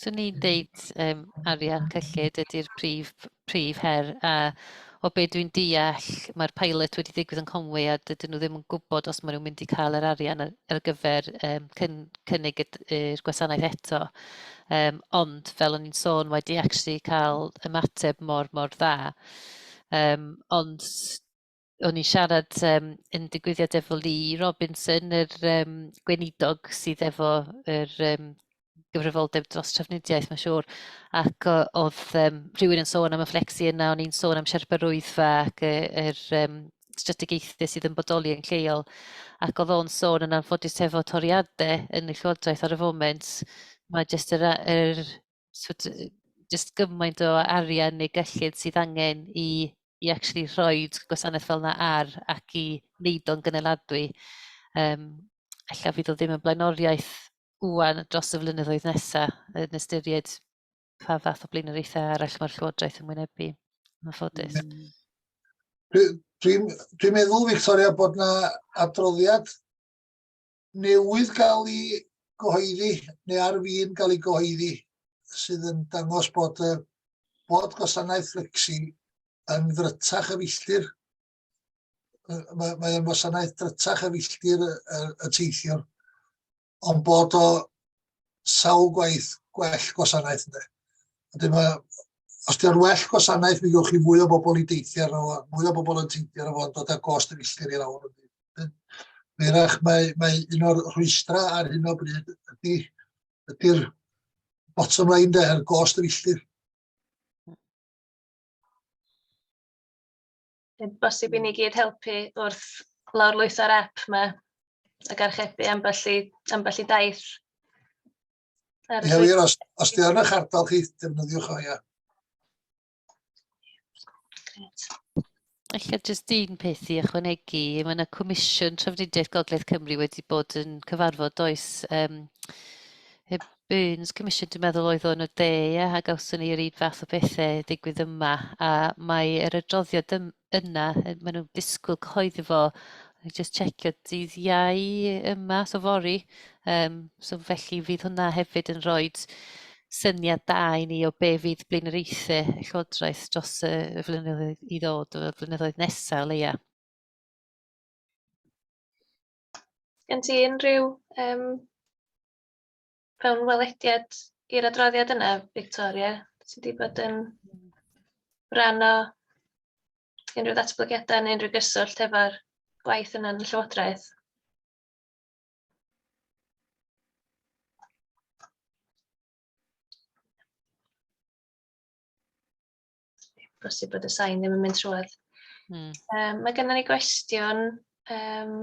Swn i'n deud um, arian cyllid ydy'r prif, prif her a o be dwi'n deall mae'r pilot wedi digwydd yn Conwy a dydyn nhw ddim yn gwybod os maen nhw'n mynd i cael yr arian ar, ar gyfer um, cyn, cynnig i'r gwasanaeth eto. Um, ond fel o'n i'n sôn wedi actually cael ymateb mor mor dda. Um, ond o'n i'n siarad um, yn digwyddiad efo Lee Robinson, yr um, gweinidog sydd efo yr um, gyfrifoldeb dros trafnidiaeth, mae'n siŵr. Ac oedd um, rhywun yn sôn am y fflexi yna, o'n i'n sôn am siarpar rwyddfa ac yr er, er, um, strategaethau sydd yn bodoli yn lleol. Ac oedd o'n sôn yn anffodus efo toriadau yn y llywodraeth ar y foment, mae jyst yr, yr sort of, just gymaint o arian neu gyllid sydd angen i, i actually rhoi gwasanaeth fel yna ar ac i wneud o'n gyneladwy. Um, Alla fydd o ddim yn blaenoriaeth wwan dros y flynyddoedd nesaf yn ystyried pa fath o blaenoriaethau arall mae'r Llywodraeth yn wynebu. Mae'n ffodus. Mm. Dwi'n dwi, dwi meddwl, Victoria, bod yna adroddiad newydd gael ei gyhoeddi, neu ar fin gael ei gyhoeddi, sydd yn dangos bod, uh, bod gwasanaeth Flexi yn ddrytach y filltir. Mae'n mae wasanaeth drytach y filltir y, y, y teithiwr, ond bod o sawl gwaith gwell gwasanaeth ynddo. Wedyn mae, os di'r well gwasanaeth, mi gywch chi fwy o bobl i deithio ar fo, mwy o bobl yn teithio ar fo, dod â gost y filltir i'r awr. Meirach, mae, mae un o'r rhwystra ar hyn o bryd ydy, ydy'r bottom line de, yr gost yr illtir. Bosib i ni gyd helpu wrth lawr lwytho'r app yma ac archebu ambell i, ambell i daith. Ie, wir, os, os di yn eich ardal chi, defnyddiwch o, ia. Alla jyst un peth i ychwanegu, mae yna Comisiwn Trafnidiaeth Gogledd Cymru wedi bod yn cyfarfod does um, y Burns Commission dwi'n meddwl oedd o'n y de ia, a gawson ni yr un fath o bethau digwydd yma a mae yr adroddiad yna, maen nhw'n disgwyl cyhoeddi fo, just checio dydd iau yma, so fori. Um, so felly fydd hwnna hefyd yn rhoi syniad da i ni o be fydd blaenoriaethau llywodraeth dros y flynyddoedd i ddod, y flynyddoedd nesaf o leia. Gen ti unrhyw um, fewnwelediad i'r adroddiad yna, Victoria? Ti wedi bod yn rhan o unrhyw ddatblygiadau neu unrhyw gyswllt efo'r gwaith yna yn y Llywodraeth? Bosib bod y sain ddim yn mynd trwad. Hmm. Um, mae gennym ni gwestiwn um,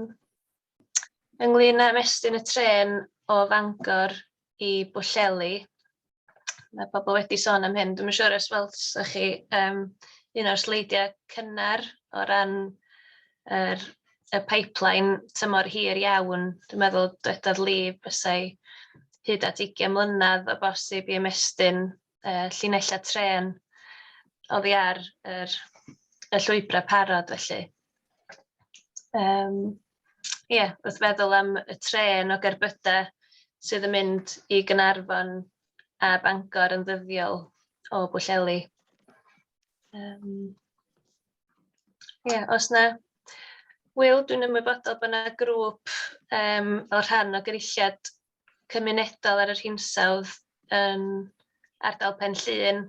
ynglyn â mestyn y tren o Fangor i Bwlleli. Mae pobl wedi sôn am hyn. Dwi'n siŵr os weld ych chi um, un o'r sleidiau cynnar o ran er, y pipeline tymor hir iawn. Dwi'n meddwl dwedodd Lee bysau hyd at 20 mlynedd o bosib i ymestyn yy llinellau trên oddi ar yr y llwybrau parod felly. Um, ie, yeah, wrth feddwl am y tren o gerbydau sydd yn mynd i Gynarfon a Bangor yn ddyddiol o Bwlleli. Um, ie, yeah, os na Wil, dwi'n ymwybodol bod yna grŵp um, fel rhan o gyrilliad cymunedol ar yr hinsawdd yn ardal Pen Llŷn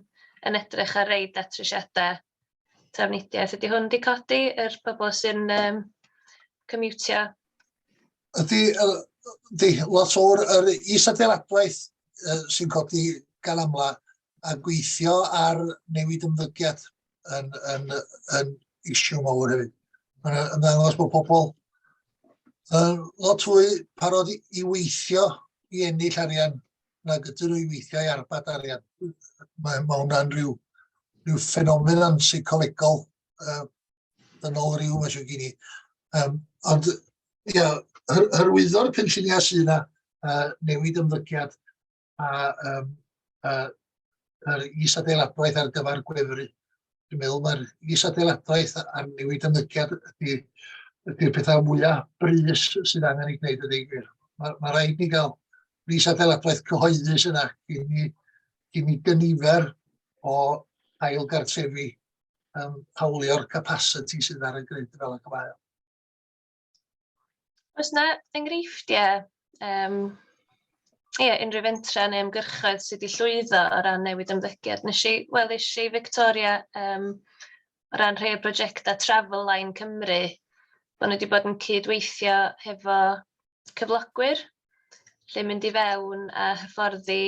yn edrych ar rei datrysiadau trafnidiaeth. Ydy hwn wedi codi yr pobl sy'n um, cymiwtio? Ydy, ydy lot o'r yr is-adeiladwaith uh, sy'n codi gan amla a gweithio ar newid ymddygiad yn, yn, yn, yn issue mawr hefyd. Mae'n ymddangos bod pobl yn lot fwy parod i weithio i ennill arian na gyda nhw i weithio i arbad arian. Mae, mae hwnna'n rhyw, rhyw ffenomen yn seicolegol uh, yn ôl rhyw, mae eisiau gen i. Um, ond, ia, hyrwyddo'r penlluniau sydd yna, uh, newid ymddygiad, a um, a, yr is-adeiladwaith ar gyfer gwefru. Dwi'n meddwl mae'r is-adeiladwaith a'r newid ymddygiad ydy, ydy'r pethau mwyaf brys sydd angen ei gwneud ydy gwir. Mae, mae rhaid ni gael is-adeiladwaith cyhoeddus yna i ni, i ni gynifer o ail gartrefi um, hawlio'r capacity sydd ar y grid fel y cyfael. Oes yna enghreifftiau um, ie, yeah, unrhyw fentra neu ymgyrchoedd sydd wedi llwyddo o ran newid ymddygiad. Nes i, wel, nes i Victoria um, o ran rhai o brosiectau Travel Line Cymru, bod nhw wedi bod yn cydweithio hefo cyflogwyr, lle mynd i fewn a hyfforddi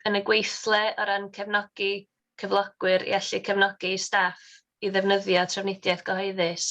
yn y gweithle o ran cefnogi cyflogwyr i allu cefnogi staff i ddefnyddio trafnidiaeth gyhoeddus.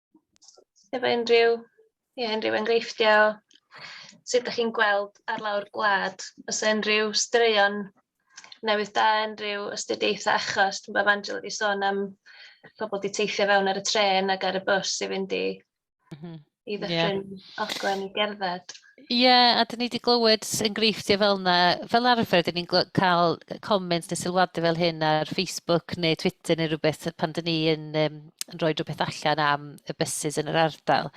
efo unrhyw, ie, unrhyw enghreifftiau o sut dach chi'n gweld ar lawr gwlad, os yna unrhyw straeon newydd da, unrhyw astudiaethau achos, dwi'n bod Angela wedi sôn am pobl wedi teithio fewn ar y tren ac ar y bws i fynd i, mm -hmm. i ddyffryn yeah. oglen i gerdded. Ie, a dyn ni wedi glywed enghreifftiau fel yna. Fel arfer, dyn ni'n cael comments neu sylwadau fel hyn ar Facebook neu Twitter neu rhywbeth pan dyn ni yn, um, yn rhoi rhywbeth allan am y bysys yn yr ardal.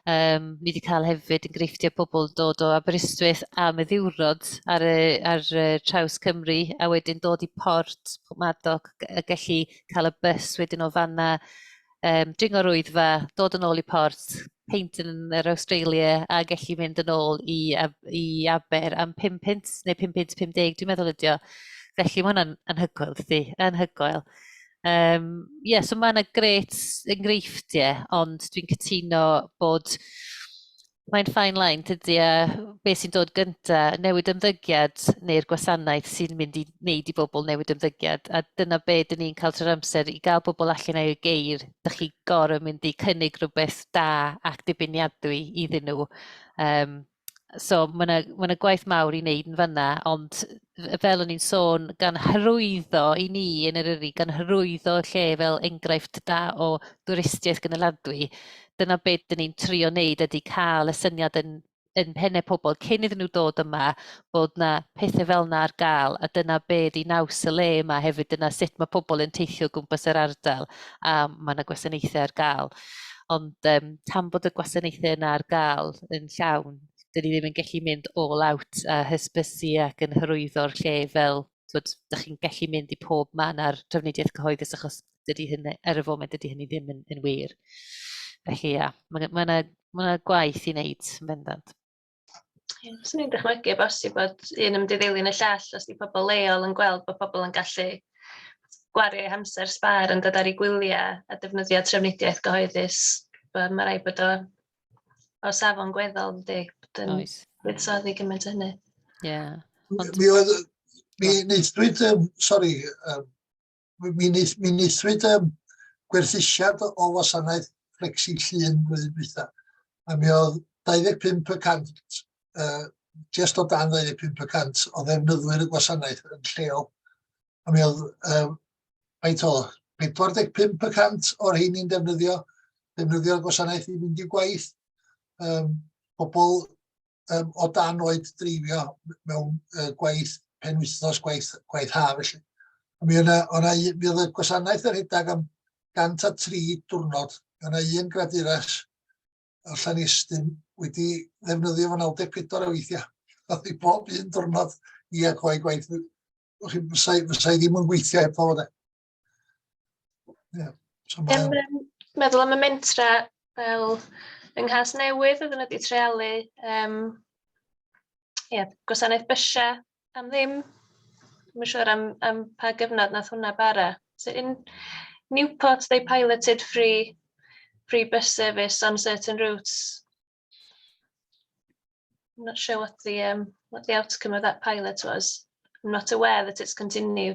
Um, ni wedi cael hefyd enghreifftiau pobl dod o Aberystwyth am y ddiwrnod ar, y, ar y traws Cymru a wedyn dod i port Madog a gallu cael y bus wedyn o fanna um, dringo rwyddfa, dod yn ôl i port, peint yn yr Australia a gallu mynd yn ôl i, i Aber am 5 pint neu 5 pint 50, dwi'n meddwl ydio. Felly mae hwnna'n anhygoel, dydy, anhygoel. Um, yeah, so mae yna gret enghreifftiau, ond dwi'n cytuno bod Mae'n fine line, tydy, a be sy'n dod gynta, newid ymddygiad neu'r gwasanaeth sy'n mynd i wneud i bobl newid ymddygiad, a dyna be dyn ni'n cael trwy'r amser i gael bobl allan o'i geir, dych chi gorau mynd i cynnig rhywbeth da ac dibeniadwy iddyn nhw. Um, so mae yna ma gwaith mawr i wneud yn fanna, ond fel o'n i'n sôn, gan hyrwyddo i ni yn yr yri, gan hyrwyddo lle fel enghraifft da o dwristiaeth gynaladwy, dyna beth dyn ni'n trio wneud ydy cael y syniad yn, yn pennau pobl cyn iddyn nhw dod yma bod yna pethau fel yna ar gael a dyna be di naws y le yma hefyd, dyna sut mae pobl yn teithio gwmpas yr ardal a mae yna gwasanaethau ar gael. Ond um, tan bod y gwasanaethau yna ar gael yn llawn, dyn ni ddim yn gallu mynd all out a hysbysu ac yn hyrwyddo'r lle fel twyd, da chi'n gallu mynd i pob man ar trafnidiaeth cyhoeddus achos dydy hyn, er y foment dydy hynny ddim yn, yn wir. Felly ia, mae ma yna ma gwaith i wneud yn bendant. Swn i'n dychmygu o bosib bod un yn mynd i ddilyn y llall os di pobl leol yn gweld bod pobl yn gallu gwario eu hamser sbar yn dod ar ei gwyliau a defnyddio trefnidiaeth gyhoeddus. Mae rhaid bod o, o safon gweddol, ydy, bod yn Oes. buddsoddi gymaint o hynny. Ie. Yeah. Mi oedd, mi neithdwyd, um, sori, um, mi, nes, mi neswyd um, gwerthusiad o wasanaeth Flexi Llun flwyddyn dwytha. A mi oedd 25 y cant, uh, just o dan 25 y cant o ddefnyddwyr y gwasanaeth yn lleol. A mi oedd, um, faint o, 45 y cant o'r hyn i'n defnyddio, defnyddio'r gwasanaeth i fynd i gwaith. Um, pobl um, o dan oed dreifio mewn uh, gwaith pen wythnos, gwaith, gwaith ha felly. Mi yna, yna, mi oedd y gwasanaeth yr hydag am 103 diwrnod. Mi yna un graduras o Llanestyn wedi ddefnyddio fo 94 o weithiau. Oedd i bob un diwrnod i ac o'i gwaith. Fysau ddim yn gweithio heb fod e. Yeah. So mae'n... Um, meddwl am y mentra fel yng Nghas Newydd oedden nhw wedi trealu um, yeah, gwasanaeth bysiau am ddim. Mae'n siŵr am, am pa gyfnod nath hwnna bara. So in Newport, they piloted free, free bus service on certain routes. I'm not sure what the, um, what the outcome of that pilot was. I'm not aware that it's continued.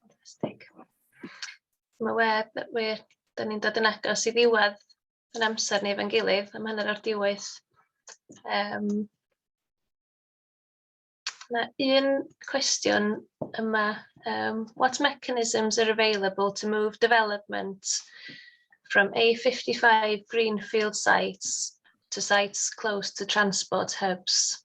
Fantastic. Mae web, wir, da ni'n dod yn agos i ddiwedd yn amser ni efo'n gilydd, am hanner o'r diwedd. Um, Mae un cwestiwn yma. Um, what mechanisms are available to move development from A55 greenfield sites to sites close to transport hubs?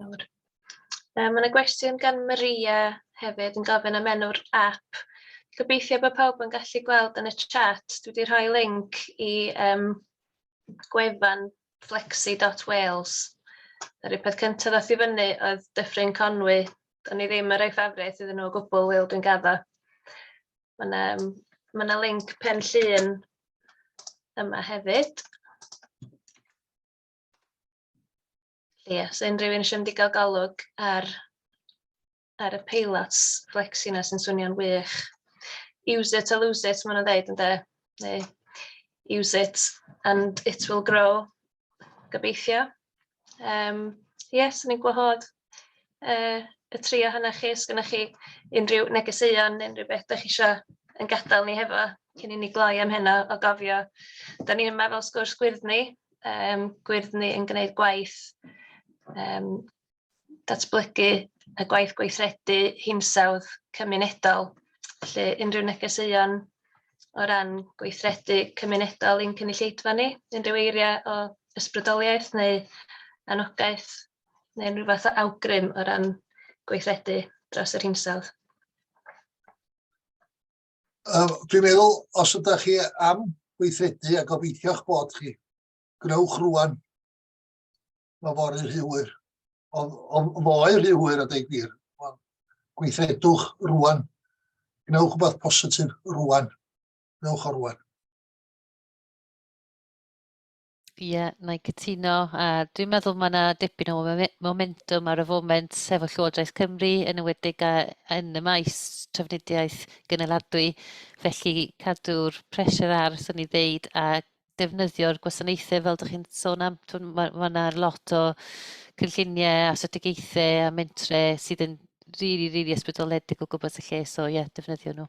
Nawr. Yy ma' 'na gwestiwn gan Maria hefyd yn gofyn am enw'r ap. Gobeithio bod pawb yn gallu gweld yn y chat, dwi 'di rhoi linc i yym gwefan flexi.wales. Yr un peth cynta ddath i fyny oedd Dyffryn Conwy, do'n i ddim yn rhoi ffafriaith iddyn nhw o gwbl Wil dwi'n gaddo. Ma' 'na yym ma' 'na linc pen llun yma hefyd. Felly os ydy unrhyw un eisiau mynd i gael golwg ar ar y paylots flexi yna sy'n swnio'n wych. Use it or lose it, maen nhw'n dweud ynde. Neu use it and it will grow, gobeithio. Yym, ie, 'swn i'n gwahodd yy y tri ohonoch chi, os gynnoch chi unrhyw negeseuon neu unrhyw beth dach chi isio ein gadael ni hefo cyn i ni gloi am heno o gofio, dan ni yma fel Sgwrs Gwyddni, yym Gwyddni yn gwneud gwaith yym datblygu y gwaith gweithredu hinsawdd cymunedol, felly unrhyw negeseuon o ran gweithredu cymunedol i'n cynulleidfa ni, unrhyw eiriau o ysbrydoliaeth neu anogaeth? neu unrhyw fath o awgrym o ran gweithredu dros yr hinsawdd? Um, dwi'n meddwl, os ydych chi am weithredu a gobeithio'ch bod chi, gwnewch rwan. Mae fori rhywwyr. Ond foe rhywwyr a dweud gwir. Gweithredwch rwan. Gwnewch rhywbeth positif rwan. Gwnewch o rwan. Ie, yeah, na i cytuno. A dwi'n meddwl mae yna dipyn o momentum ar y foment efo Llywodraeth Cymru, yn ywedig a, yn y maes trafnidiaeth gynaladwy. Felly cadw'r pressure ar, sy'n ni ddeud, a defnyddio'r gwasanaethau fel ydych chi'n sôn am. Mae yna ma lot o cynlluniau a strategaethau a mentre sydd yn rili, really, rili really ysbrydoledig o gwybod y lle. So ie, yeah, defnyddio nhw.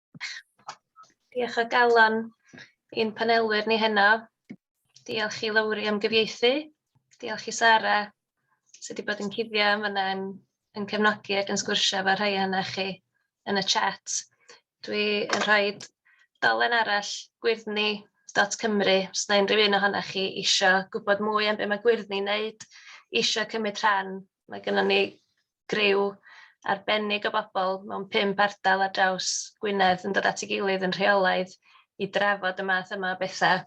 Diolch o galon i'n panelwyr ni heno. Diolch i Lowri am gyfieithu. Diolch i Sara sydd wedi bod yn cuddio yn fan'na yn yn cefnogi ac yn sgwrsio efo rhai ohonoch chi yn y chat. Dwi yn rhoi dolen arall gwyrddni.cymru os na unrhyw un ohonoch chi isio gwybod mwy am be' ma' gwyrddni'n neud, isio cymryd rhan, mae gynnon ni griw arbennig o bobl mewn pump ardal ar draws Gwynedd yn dod at ei gilydd yn rheolaidd i drafod y math yma o bethau,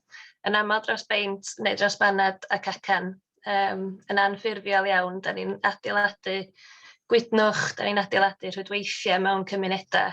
yn aml dros beint neu dros baned ac acen. Yym, yn anffurfiol iawn, dan ni'n adeiladu gwydnwch, dan ni'n adeiladu rhwydweithiau mewn cymunedau.